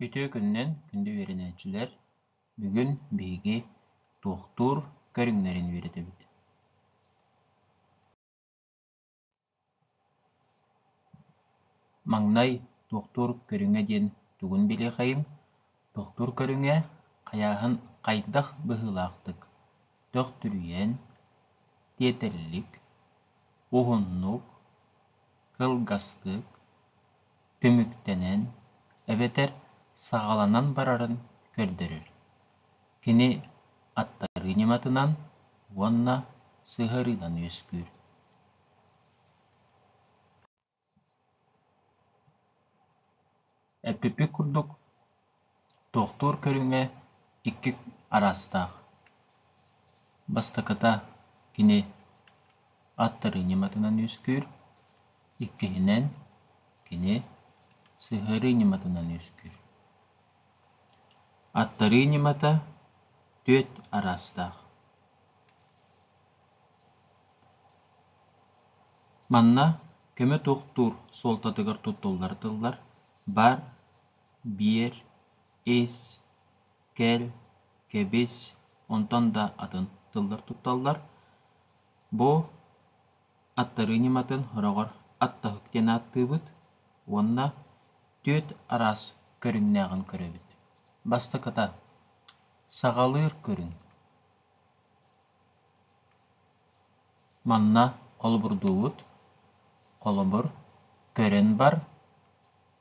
Үтүө күнүнэн күндү үөрэнээччилэр! Бүгүн биһиги туохтуур көрүҥнэрин үөрэтэбит Маҥнай туохтуур көрүҥэ диэн тугун билиэххэйиҥ? Тохтуур көрүҥэ хайааһын хайдах быһыылаахтык төхтүрүйэн, тиэтэллик, уһуннук, кылгастык, түмүктэнэн эбэтэр саҕаланан барарын көрдөрөр. Кини аттарыы ньыматынан уонна сыһыарыынан үөскүүр. Эппиппит курдук, туохтуур көрүҥэ икки араастаах: бастакыта кини аттары ньыматынан үөскүүр, иккиһинэн кини сыһыарыы ньыматынан үөскүүр. Аттарыы ньымата түөрт араастаах Манна көмө туохтуур суолтатыгар туттуллар тыллар баар: биэр, ис, кэл, кэбис онтон да атын тыллар тутталлар. Бу аттарыы ньыматын сороҕор «аттаһык» диэн ааттыыбыт уонна түөрт араас көрүҥнээҕин көрөбүт. Бастакыта: саҕалыыр көрүҥ. Манна холобурдуубут, холобур, көрөн бар,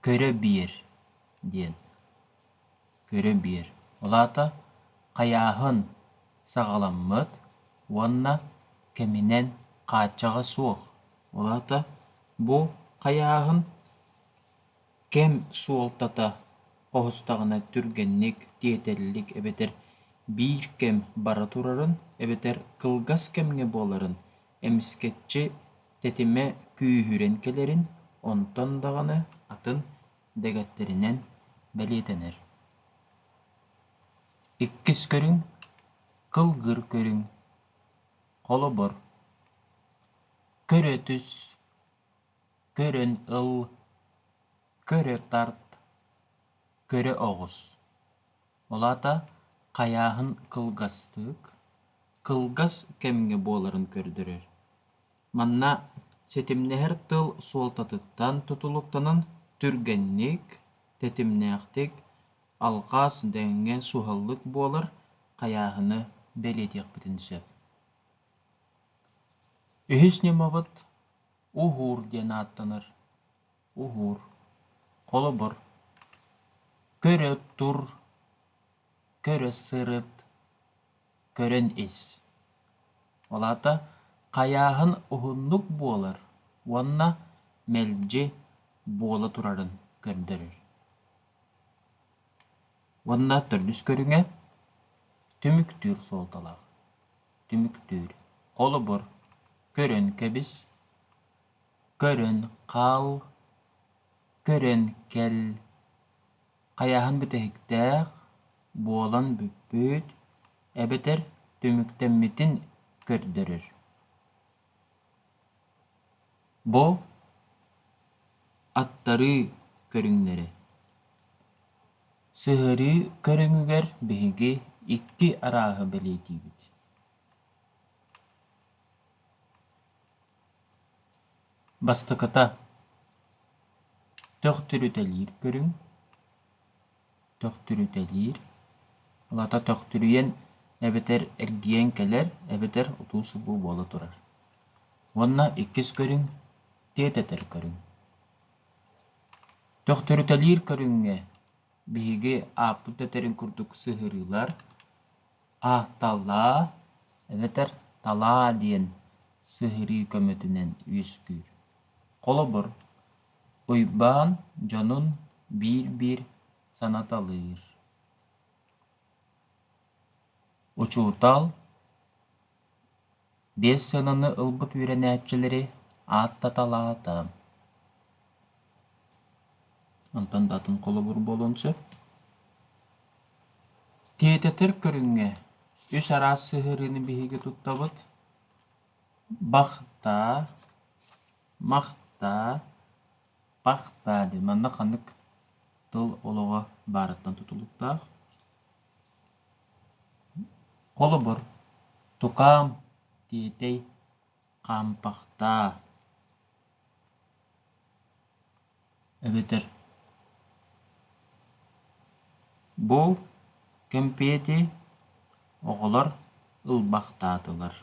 көрө биэр диэн. Көрө биэр. Ол аата хайааһын саҕаламмыт уонна кэминэн хааччаҕа суох. Ол аата бу хайааһын кэм суолтата оһустаҕына түргэнник, тиэтэллик эбэтэр биир кэм бара турарын эбэтэр кылгас кэмҥэ буоларын, эмискэччи тэтимэ күүһүрэн кэлэрин, онтон даҕаны атын дэгэттэринэн бэлиэтэнэр. Иккис көрүҥ – кылгыр көрүҥ. Холобур, көрө түс, көрөн ыл, көрө тарт, көрө оҕус. Ол аата хайааһын кылгастык, кылгас кэмҥэ буоларын көрдөрөр. Манна ситимнэһэр тыл суолтатыттан тутулуктанан түргэнник, тэтимнээхтик, алҕас, дэҥҥэ суһаллык буолар хайааһыны бэлиэтиэхпитин сөп. Үһүс ньымабыт Уһуур диэн ааттанар. Уһуур. Холобур. Көрө тур, көрө сырыт, көрөн ис. Ол аата хайааһын уһуннук буолар уонна мэлдьи буола турарын көрдөрөр. Уонна төрдүс көрүҥэ түмүктүүр суолталаах. түмүктүүр. Холобур, көрөн кэбис, көрөн хаал, көрөн кэл, хайааһын бүтэһиктээх буолан бүппүт эбэтэр түмүктэммитин көрдөрөр. Бу аттарыы көрүҥнэрэ Сыһарыы көрүҥүгэр биһиги икки арааһы бэлиэтиибит Бастакыта, төхтүрүтэлиир көрүҥ. төхтүрүтэлиир. Ылата төхтүрүйэн эбэтэр эргийэн кэлэр эбэтэр утуу-субуу буола турар. Уонна иккис көрүҥ тиэтэтэл көрүҥ. Төхтүрүтэлиир көрүҥҥэ биһиги ааппыт этэрин курдук сыһырыылар аакталаа эбэтэр талаа диэн сыһырыы көмөтүнэн үөскүүр. Холобур, Уйбаан дьонун биир-биир санаталыыр: «Учуутал, биэс сыананы ылбыт үөрэнээччилэри ааттаталаата» Онтон да атын холобур буолуон сөп. Тиэтэтэр көрүҥҥэ үс араас сыһыарыыны биһиги туттабыт: бахтаа, Махтаа, пахтаа диэн манна ханнык тыл олоҕо баарыттан тутулуктаах. Холобур, тукаам, тиэтэй, хаампахтаа. эбэтэр бу кэмпиэти оҕолор ылбахтаатылар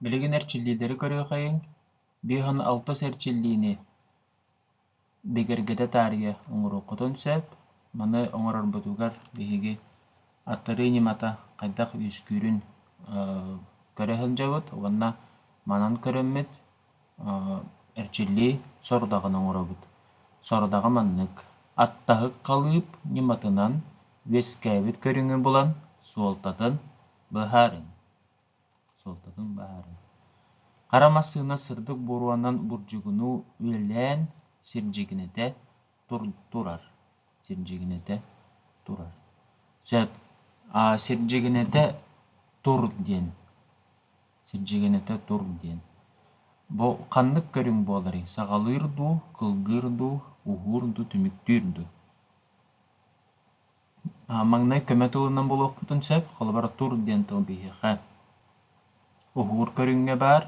билигин эрчиллиилэри көрүөхэйиҥ биэс уон алтыс эрчиллиини бигэргэтэ таарыйа оҥоруоххутун сөп. Маны оҥорорбутугар биһиги аттарыы ньымата хайдах үөскүүрүн көрө сылдьабыт уонна манан көрөммүт эрчиллии сорудаҕын оҥоробут. Сорудаҕы маннык: аттаһык халыып ньыматынан үөскээбит көрүҥү булан суолтатын быһаарыҥ. суолтатын баһарын. Хара массыына сырдык буруонан бурдьугунуу үлэлээн сирдьигинэтэ тур, турар. Сирдьигинэтэ турар. Сөп. А, сирдьигинэтэ тур диэн. Сирдьигинэтэ тур диэн. Бу ханнык көрүҥ буоларый? Саҕалыыр дуу, кылгыыр дуу, уһуур дуу, түмүктүүр дуу? Маҥнай көмө туһунан булуохпутун сөп, холобур тур диэн тыл биһиэхэ уһуур көрүҥҥэ баар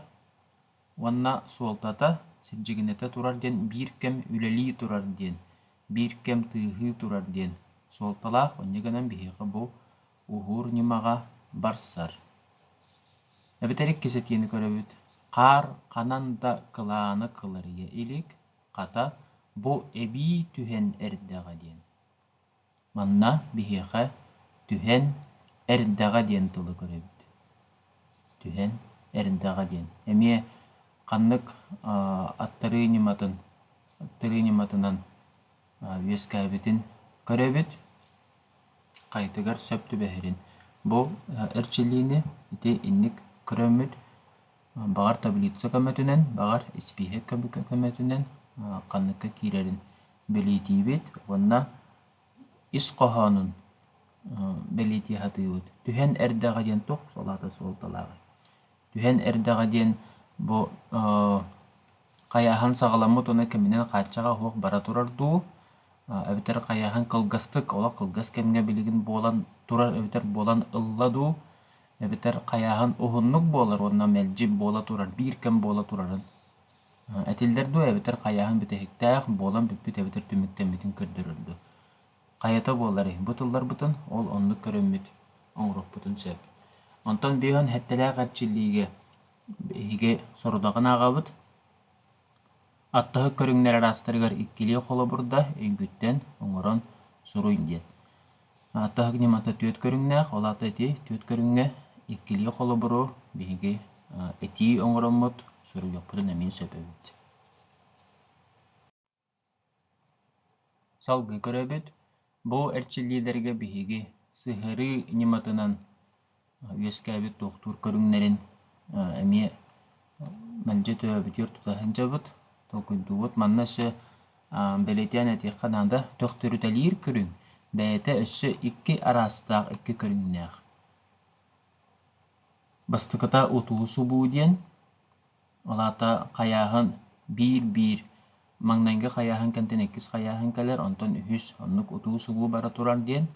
уонна суолтата сирдьигинэтэ турар диэн биир кэм үлэлии турар диэн, биир кэм тыаһыы турар диэн суолталаах. Инньэ гынан биһиэхэ бу уһуур ньымаҕа барсар. Эбэтэр иккисэтиини көрөбүт. Хаар ханан да кылааны кыларыйа илик, хата, бу эбии түһэн эрдэҕэ диэн. Манна биһиэхэ «түһэн эрдэҕэ» диэн тылы көрөбүт. «Түһэн эрдэҕэ» диэн. Эмиэ ханнык аттарыы ньыматын аттарыы ньыматынан үөскээбитин көрөбүт. Хайытыгар сөп түбэһэрин. Бу эрчиллиини ити инник көрөммүт. Баҕар таблица көмөтүнэн, баҕар испииһэк көмөтүнэн ханныкка киирэрин бэлиэтиибит уонна ис хоһоонун бэлиэтии сатыыбыт. Түһэн эрдэҕэ диэн туох салаата суолталааҕый? Түһэн эрдэҕэ диэн бу хайааһын саҕаламмыт уонна кэминэн хааччаҕа суох бара турар дуу, эбэтэр хайааһын кылгастык, олох кылгас кэмҥэ билигин буолан турар эбэтэр буолан ылла дуу, эбэтэр хайааһын уһуннук буолар уонна мэлдьи буола турар, биир кэм буола турарын этиллэр дуо эбэтэр хайааһын бүтэһиктээх буолан бүппүт эбэтэр түмүктэммитин көрдөрөр дуо хайата буоларый бу тылларбытын ол оннук көрөммүт оҥоруохпутун сөп онтон бөйөн хэттэлээх эрчиллиигэ биһиги сорудаҕын аҕабыт Аттаһык көрүҥнэр араастарыгар иккилии холобурда өйгүттэн оҥорон суруй диэн. Аттаһык ньымата түөрт көрүҥнээх, ол аата ити түөрт көрүҥҥэ иккилии холобуру биһиги этии оҥороммут, суруйуохпутун эмиэ сөп эбит. Салгыы көрөбүт. Бу эрчиллиилэргэ биһиги сыһыарыы ньыматынан үөскээбит туохтуур көрүҥнэрин эмиэ мэлдьи төрөөбүтүгэр тута сылдьабыт, толкуйдуубут. Манна өссө бэлиэтээн этиэххэ наада, төрүтэлиир көрүҥ бэйэтэ өссө икки араастаах, икки көрүҥнээх. Бастакыта утуу субуу диэн, Ол аата хайааһын биир-биир маҥнайгы хайааһын кэнтэн иккис хайааһын кэлэр, онтон үһүс, оннук утуу-субуу бара турар диэн.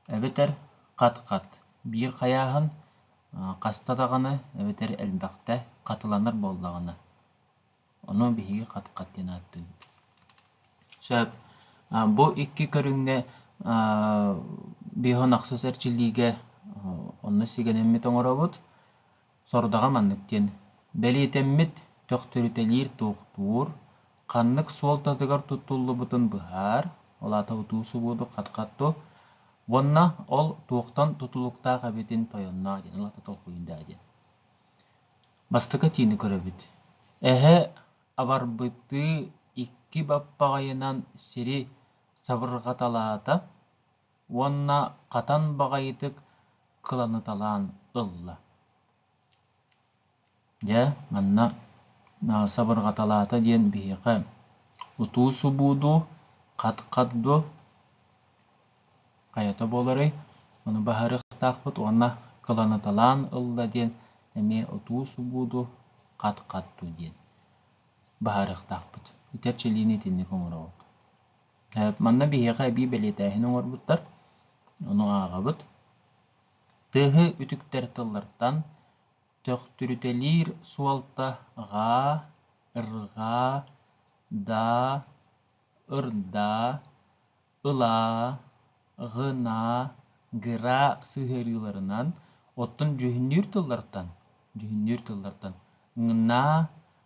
Эбэтэр хат-хат. Биир хайааһын хаста даҕаны, эбэтэр элбэхтэ хатыланар буоллаҕына, ону биһиги хат-хат диэн ааттыыбыт. Сөп. Бу икки көрүҥҥэ биһиэхэ ахсыс эрчиллиигэ онно сигэнэммит оҥоробут. Сорудаҕа маннык диэн, бэлиэтэммит төхтүрүтэлиир туохтуур ханнык суолтатыгар туттуллубутун быһаар, ол аата утуу субуоту хатхатту уонна ол туохтан тутулуктаах эбитин тойонноо диэн, ол аата толкуйун даа диэн. Бастакы этиини көрөбүт. Эһэ абарбытыы икки баппаҕайынан сири сабырҕаталаата, уонна хатан баҕайытык кыланыыталаан ылла. Дьэ, манна сабырҕаталаата диэн биһиэхэ утуу-субуудуу, хат-хат дуо, хайата буоларый, ону баһарыахтаахпыт уонна кыланыыталаан ылла диэн эмиэ утуу-субуудуу, хат-хат дуу диэн баһаарыахтаахпыт. Ити эрчилиини итинник оҥорообут. Манна биһиэхэ эбии бэлиэтээһин оҥорбуттар. Ону ааҕабыт. Тыаһы үтүктэр тыллартан төхтүрүтэлиир суолта ҕаа, ырҕаа, даа, ырдаа, ылаа, гынаа, гыра сыһыарыыларынан, оттон дьүһүннүүр тыллартан, дьүһүннүүр тыллартан ҥнаа,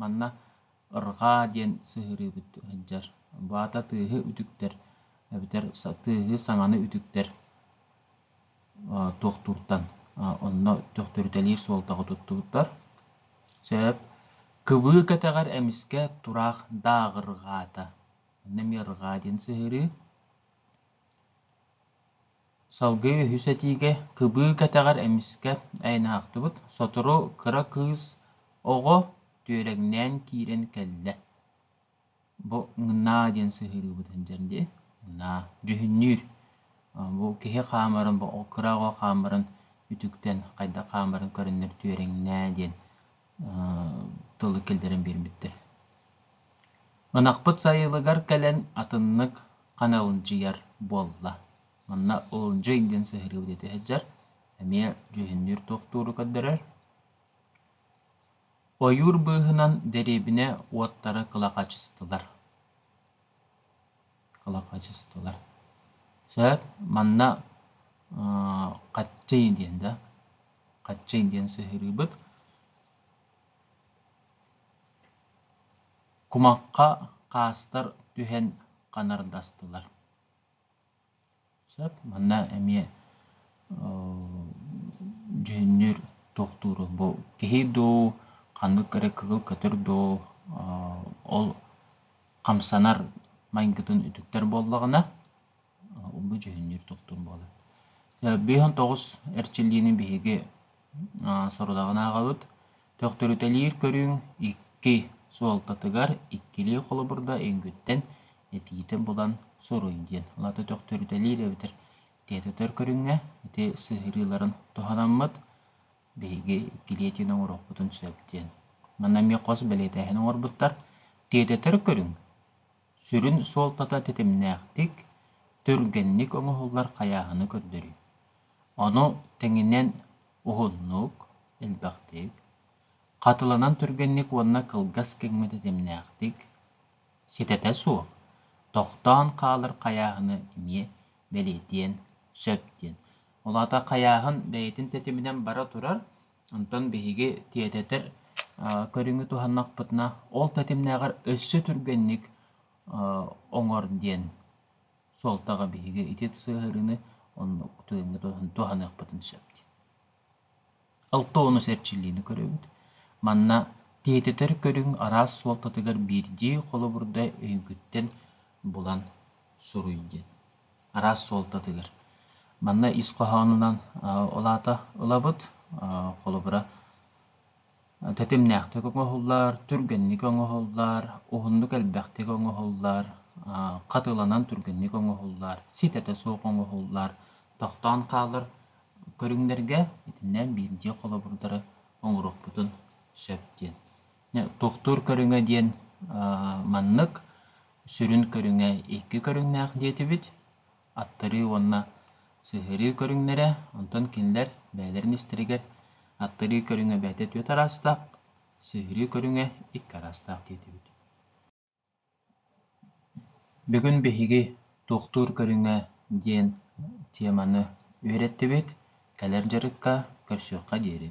Манна ырҕаа диэн сыһыарыыбыт сылдьар, вата тыаһы үтүктэр эбэтэр тыаһы саҥаны үтүктэр туохтууртан онно төхтөрүтэлиир суолтаҕа туттубуттар. Сөп. Кыбыы кэтэҕэр эмискэ тураах дааҕырҕаата. Иннэ эмиэ ырҕаа диэн сыһыарыы. Салгыы үһүс этиигэ кыбыы кэтэҕэр эмискэ айанаахтыбыт сотору кыра кыыс оҕо түөрэҥнээн киирэн кэллэ бу «Ҥнаа» диэн сыһыарыыбыт сылдьар дии «Ҥнаа» дьүһүннүүр бу киһи хаамарын кыра оҕо хаамарын үтүктэн хайдах хаамарын көрөннөр түөрэҥнээ диэн тылы киллэрэн биэрбиттэр. Ынахпыт сайылыгар кэлэн атыннык ханалынчыйар буолла. Манна улунчуй диэн сыһарыыбы диэти сылдьар, эмиэ дьүһүннүүр тохтууру көрдөрөр. Ойуур быыһынан дэриэбинэ уоттара кылахачыстылар. олоххочустуулар. Сөп, манна хаччый диэн да, хаччый диэн сыһыарыыбыт. Кумахха хаастар түһэн ханардастылар. Сөп. Манна эмиэ дьүһүннүүр туохтууру бу киһи дуу, ханнык эрэ кыгыл көтөр дуу ол хамсанар майгытын үтүктэр буоллаҕына бу дьүһүннүүр туохтуур буолар. Быһын тоҕус эрчиллиини биһиги сорудаҕын ааҕабыт. Төхтүрүтэлиир көрүҥ икки суолтатыгар иккилии холобурда эҥгүттэн этиитэ булан суруй диэн. Лата төхтүрүтэлиир эбэтэр тиэтэтэр көрүҥҥэ ити сыһыарыыларын туһанаммыт. Биһиги иккилии этиини оҥоруохпутун сөп диэн. Манна эмиэ хос бэлиэтээһин оҥорбуттар. Тиэтэтэр көрүҥ Сүрүн суолтата тэтимнээхтик, түргэнник оҥоһуллар хайааһыны көрдөрүү. Ону тэҥинэн уһуннук, элбэхтик, хатыланан түргэнник уонна кылгас кэҥҥэ тэтимнээхтик, ситэтэ суох, тохтоон хаалар хайааһыны эмиэ бэлиэтиэн сөп диэн. Ол аата хайааһын бэйэтин тэтиминэн бара турар, Онтон биһиги тиэтэтэр көрүҥү туһаннахпытына, ол тэтимнээҕэр өссө түргэнник оҥор диэн суолтаҕа биһиги ити сыһыарыыны оннук тыыҥҥа туһаныахпытын сөп диэн. Алтоонус эрчиллиини көрөбүт. Манна тиэтэтэр көрүҥ араас суолтатыгар биирдии холобурда өйгүттэн булан суруй диэн. араас суолтатыгар. Манна ис хоһоонунан ол аата ылабыт. Холобура, тэтимнээхтик оҥоһуллар, түргэнник оҥоһуллар, уһуннук элбэхтик оҥоһуллар, хатыланан түргэнник оҥоһуллар, ситэтэ суох оҥоһуллар, тохтоон хаалар көрүҥнэргэ итиннэ биирдии холобурдары оҥоруохпутун сөп диэн. Туохтуур көрүҥэ диэн маннык, сүрүн көрүҥэ икки көрүҥнээх диэтибит, аттарыы уонна сыһыарыы көрүҥнэрэ, онтон кинилэр бэйэлэрин истэригэр аттарыы көрүҥэ бэйэтэ түөрт араастаах, сыһыарыы көрүҥэ икки араастаах диэтибит. Бүгүн биһиги туохтуур көрүҥэ диэн теманы үөрэттибит, кэлэр дьарыкка көрсүөххэ диэри.